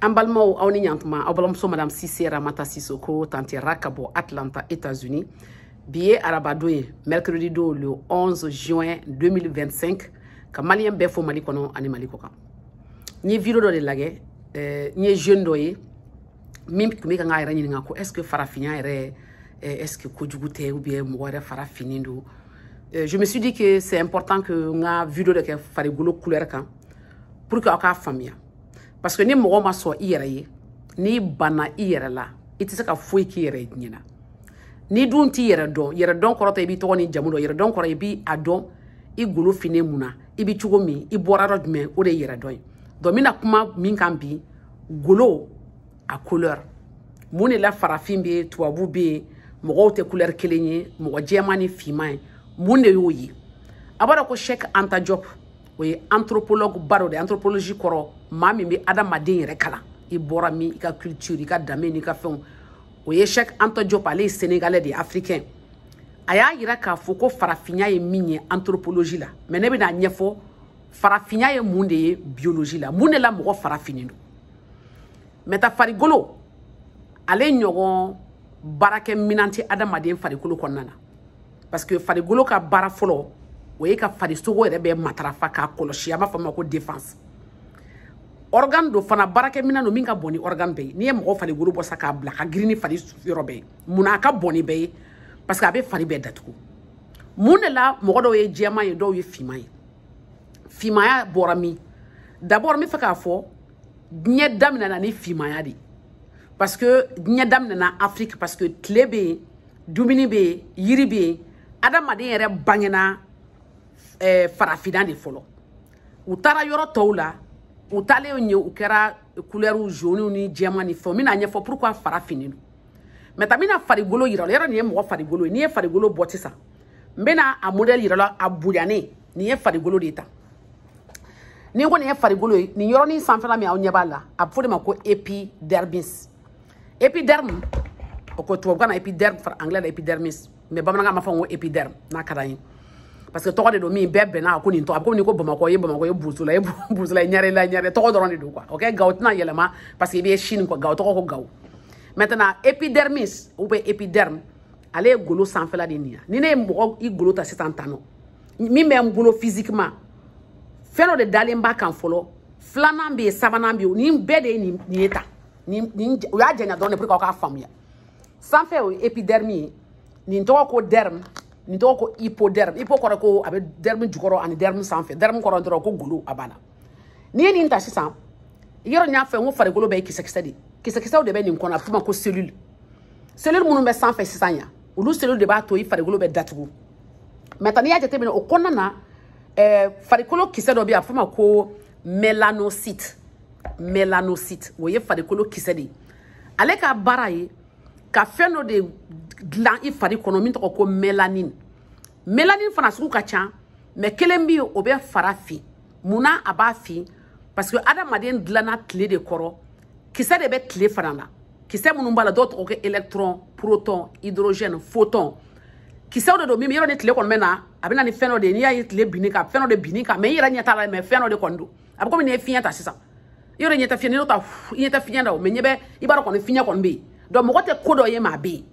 an balimaw aw ni ɲantuma aw balimamuso madame sise ramata sisoko tante ra ka bɔ atlanta états-unis bi ye arabadon ye mercredi don le 11 juin 2025 ka maliyɛn bɛɛ fo mali kɔnɔ ani mali kɔ kan n ye video dɔ de lagɛ eh, n ye jeune dɔ ye min tun bɛ ka n ka yɛrɛ ɲininka ko est ce que farafinya yɛrɛ eh, est ce que kojugu tɛ ou bien mɔgɔ yɛrɛ fara finnen don eh, je me suis dit que c'est important que n ka video dɔ kɛ farigolo couleur kan pour que aw k'a faamuya parce que ni mɔgɔ ma sɔn i yɛrɛ ye n'i banna i yɛrɛ la i tɛ se ka foyi k'i yɛrɛ ye diɲɛ na n'i dun t'i yɛrɛ dɔn yɛrɛ dɔn kɔrɔ tɛ i b'i tɔgɔ ni jamu dɔn yɛrɛ dɔn kɔrɔ i b'a dɔn i golo finnen mun na i bɛ cogo min i bɔra yɔrɔ jumɛn o de ye yɛrɛ dɔn ye donc n bɛna kuma min kan bi golo a couleur mun de la farafin bɛ yen tubabu bɛ yen mɔgɔw tɛ couleur kelen ye mɔgɔ jɛman ni finman ye mun de y'o ye aw b'a dɔn ko cheikh anta diop o ye anthropologue ba dɔ de anthropologie kɔrɔ maa min bɛ adamaden yɛrɛ kalan i bɔra min i ka culture i ka danbe n'i ka fɛnw o ye cheikh anta diop ale ye sénégalais de ye africain a y'a yira k'a fɔ ko farafinya ye min ye anthropologie la mais ne bɛna ɲɛfɔ farafinya ye mun de ye biologie la mun de la mɔgɔ fara finnen don maintenant farigolo ale ɲɔgɔn baarakɛminan tɛ adamaden farikolo kɔnɔna na parce que farigolo ka baara fɔlɔ o ye ka farisogo yɛrɛ bɛɛ matarafa k'a kɔlɔsi an b'a f'a ma ko défense organe don fana baarakɛminɛn do min ka bɔn ni organe bɛɛ ye n'i ye mɔgɔ farigolo bɔ sa k'a bila a ka girin ni fari yɔrɔ bɛɛ ye munna a ka bɔn ni bɛɛ ye parce que a bɛ fari bɛɛ datugu mun de la mɔgɔ dɔw ye jɛman ye dɔw ye finman ye finmaya bɔra min d'abord n b'a fɛ k'a fɔ diɲɛ daminɛna ni finmaya de ye parce que diɲɛ daminɛna afiriki parce que tile bɛ yen dumuni bɛ yen yiri bɛ yen adamaden yɛrɛ bangena eh, farafinna de fɔlɔ u taara yɔrɔ tɔw la u taalen yen u kɛra couleur jaune ni jɛman ni fɛnw n bɛna ɲɛfɔ pourquoi fara finnen don maintenant n bɛna farigolo yira aw la yɔrɔ nin ye mɔgɔ farigolo ye n'i ye farigolo bɔ sisan n bɛna a modɛli yira aw la a bonyanen nin ye farigolo de ye tan n'i ko nin ye farigolo ye nin yɔrɔnin sanfɛla min aw ɲɛ b'a la a bɛ fɔ o de ma ko epidermis épiderme o ko tubabukan na épiderme fara anglais la épidermis mais bamanankan ma fɔ n ko épiderme n'a ka d'an ye parce que tɔgɔ de don min bɛɛ bɛnna a ko nin tɔgɔ a bɛ komi n'i ko bamakɔ ye bamakɔ ye bozola ye bozola ye ɲarela ɲare tɔgɔ dɔrɔn de don quoi ok gawo tɛna yɛlɛma parce que i bɛ chine quoi gawo tɔgɔ ko gawo maintenant épidermis ou bien épiderme ale ye golo sanfɛla de nin ya ni ne ye mɔgɔ i golo ta sisan tan nɔ min bɛ n bolo physiquement fɛn dɔ de dalen b'a kan fɔlɔ filanan bɛ yen sabanan bɛ yen nin bɛɛ de ye nin ye tan nin nin u y'a janya dɔrɔn de pour que aw k'a faamuya sanfɛ o ye epiderme ye nin tɔgɔ ko derme nin tɔgɔ ko hypoderme hypo kɔrɔ ko a bɛ derme jukɔrɔ ani derme sanfɛ derme kɔrɔ dɔrɔn ko golo a banna n'i ye nin ta sisan yɔrɔ n y'a fɔ n ko farikolo bɛɛ ye kisɛkisɛ de ye kisɛkisɛw de bɛ nin kɔnɔ a bɛ f'o ma ko cellule cellule minnu bɛ sanfɛ sisan yan olu cellule de b'a to i farikolo bɛ datugu maintenant n'i y'a jateminɛ o kɔnɔna na ɛɛ farikolo kisɛ dɔ bɛ yen a bɛ f'o ma ko melanocyte melanocyte o ye farikolo kisɛ de ye ale ka baara ye ka fɛn dɔ de dilan i fari kɔnɔ min tɔgɔ ko melanin melanin fana sugu ka ca mais kelen bɛ yen o bɛ fara fin mun na a b'a fin parce que adamaden dilanna tile de kɔrɔ kisɛ de bɛ tile fana na kisɛ minnu b'a la dɔw tɔgɔ ko électron proton hydrogène photon kisɛw de don min yɔrɔ ni tile kɔni bɛ na a bɛ na ni fɛn dɔ de ye n'i y'a ye tile binn'i kan fɛn dɔ de binn'i kan mais i yɛrɛ ɲɛ t'a la mais fɛn dɔ de kɔni don a bɛ komi n'i ye fiɲɛ ta sisan yɔrɔ ɲɛ tɛ fiɲɛ n'i y'o ta i ɲɛ tɛ fiɲɛ la mais ɲɛ bɛ i b'a dɔn kɔni fiɲɛ kɔni bɛ yen donc mɔgɔ tɛ ko dɔ ye mais a bɛ yen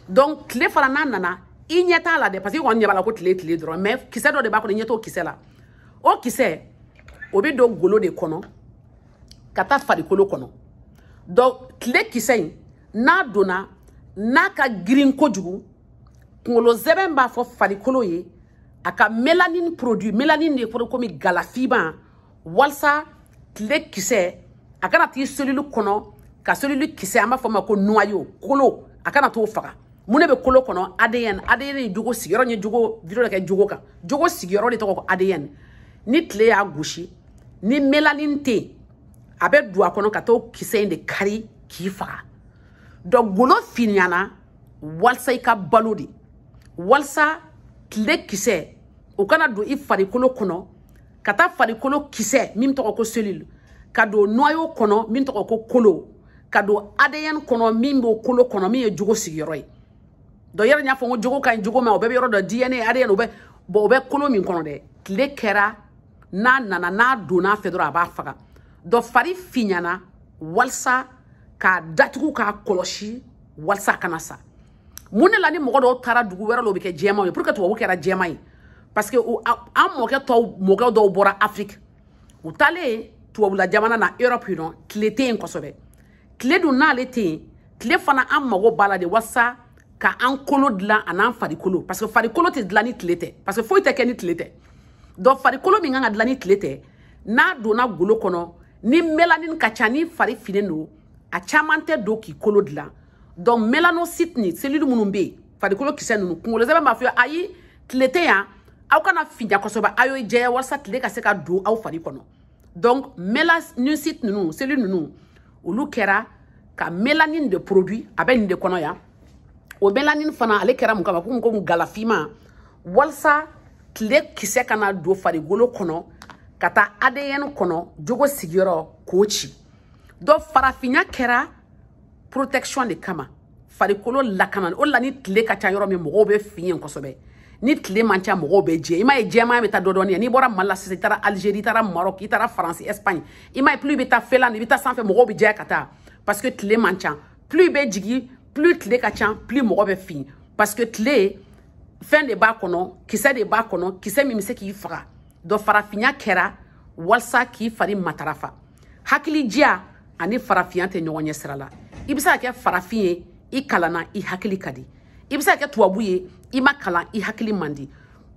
donc tile fana n'a nana i ɲɛ t'a la dɛ parce que i kɔni ɲɛ b'a la ko tile tile dɔrɔn mais kisɛ dɔ de b'a kɔnɔ i ɲɛ t'o kisɛ la o kisɛ o bɛ don golo de kɔnɔ ka taa farikolo kɔnɔ donc tile kisɛ in n'a donna n'a ka girin kojugu kunkolo sɛmɛ b'a fɔ farikolo ye a ka melanine produit melanine de kɔrɔ komi galafiman walasa tile kisɛ a kana t'i cellule kɔnɔ ka cellule kisɛ an b'a fɔ ma ko noyau kolo a kana t'o faga mun de bɛ kolo kɔnɔ adn adn ye jogo sigiyɔrɔ ye jogo video kɛ jogo kan jogo sigiyɔrɔ de tɔgɔ ko adn ni tile y'a gosi ni melanine tɛ a bɛ don a kɔnɔ ka t'o kisɛ in de kari k'i faga donc golo finyana walisa i ka balo de walisa tile kisɛ o kana don i farikolo kɔnɔ ka taa farikolo kisɛ min tɔgɔ ko cellule ka don noyau kɔnɔ min tɔgɔ ko kolo ka don adn kɔnɔ min b'o kolo kɔnɔ min ye jogo sigiyɔrɔ ye dɔ yɛrɛ y'a fɔ ko jogo ka ɲi jogo ma o bɛɛ bɛ yɔrɔ dɔ dna adn o bɛ bɔn o bɛ kolo min kɔnɔ dɛ tile kɛra n'a nana n'a donn'a fɛ dɔrɔn a b'a faga donc fari finyana walisa k'a datugu k'a kɔlɔsi walisa a kana sa mun de la ni mɔgɔ dɔw taara dugu wɛrɛ la u bɛ kɛ jɛman ye pourquoi tubabu kɛra jɛman ye parce que an mɔkɛ tɔw mɔkɛ dɔw bɔra afiriki u taalen tubabula jamana na europe non tile tɛ yen kosɛbɛ tile dun n'ale tɛ yen tile fana an mago b'a la de walasa ka an kolo dilan an'an farikolo parce que farikolo tɛ dilan ni tile tɛ parce que foyi tɛ kɛ ni tile tɛ donc farikolo min kan ka dilan ni tile tɛ n'a donna golo kɔnɔ ni melanin ka ca ni fari finnen don a caman tɛ don k'i kolo dilan donc mélanocyte ni cellule minnu bɛ yen farikolo kisɛ ninnu kunkolo sɛmɛ b'a fɔ ayi tile tɛ yan aw kana finya kosɛbɛ aw ye jɛya walasa tile ka se ka don aw fari kɔnɔ donc mélanocyte ninnu cellule ninnu olu kɛra ka mélanine de produit a bɛ nin de kɔnɔ yan o mélanine fana ale kɛra mun kama ko mun ko mun gala finman walasa tile kisɛ kana don farikolo kɔnɔ ka taa adn kɔnɔ jogo sigiyɔrɔ k'o ci donc farafinya kɛra protection de kama farikolo lakana o la ni tile ka ca yɔrɔ min mɔgɔw bɛ fin yen kosɛbɛ ni tile man ca mɔgɔw bɛ jɛ i m'a ye jɛman bɛ taa dɔɔni dɔɔni ye n'i bɔra mali la sisan i taara algérie i taara maroc i taara france espagne i m'a ye plus i bɛ taa finlande i bɛ taa sanfɛ mɔgɔw bɛ jɛya ka taa parce que tile man ca plus i bɛ jigin plus tile ka ca plus mɔgɔ bɛ fin parce que tile fɛn de b'a kɔnɔ kisɛ de b'a kɔnɔ kisɛ min bɛ se k'i faga donc farafinya kɛra walasa k'i fari matarafa hakilidiya ani farafinya tɛ ɲɔgɔn ɲɛ sira la i bɛ se ka kɛ farafin ye i kalanna i hakili ka di i bɛ se ka kɛ tubabu ye i ma kalan i hakili man di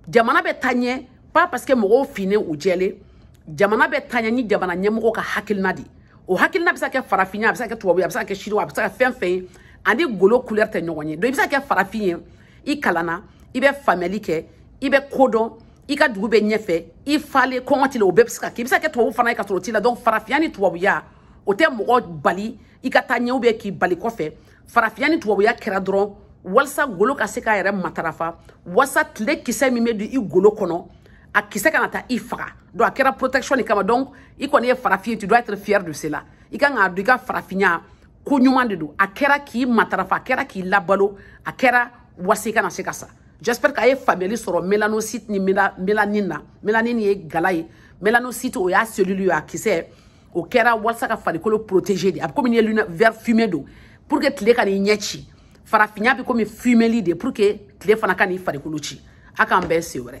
jamana bɛ taa ɲɛ pas parce que mɔgɔw finnen u jɛlen jamana bɛ taa ɲɛ ni jamana ɲɛmɔgɔ ka hakilina de o hakilina bɛ se ka kɛ farafinya a bɛ se ka kɛ tubabu ye a bɛ se ka kɛ chinois a bɛ se ka kɛ fɛn fɛn ye ani golo couleur tɛ ɲɔgɔn ye donc i bɛ se ka kɛ farafin ye i kalanna i bɛ faamuyali kɛ i bɛ ko dɔn i ka dugu bɛ ɲɛfɛ i falen kɔngɔ t'i la o bɛɛ bɛ se ka kɛ i bɛ se ka kɛ tubabu fana ye ka sɔrɔ o t'i la donc farafinya ni tubabuya o tɛ mɔgɔ bali i ka taa ɲɛ ou bien k'i bali kɔfɛ farafinya ni tubabuya kɛra dɔrɔn walisa golo ka se k'a yɛrɛ matarafa walisa tile kisɛ min bɛ don i golo kɔnɔ a kisɛ kana taa i faga donc a kɛra protection de kama donc i kɔni ye farafin ye tu dois être fier de cela i kan k'a dɔn i ka farafinya ko ɲuman de don a kɛra k'i matarafa a kɛra k'i labalo a kɛra walasa i kana se ka sa j'espère k'a ye faamuyali sɔrɔ mélanocyte ni mélanine na mélanine ye gala ye mélanocyte o y'a cellule ye a kisɛ o kɛra walasa ka farikolo protéger de a bɛ komi n'i ye verre fumé don pour que tile kan'i ɲɛ ci farafinya bɛ komi fumeli de pour que tile fana kan'i farikolo ci a k'an bɛn siɲɛ wɛrɛ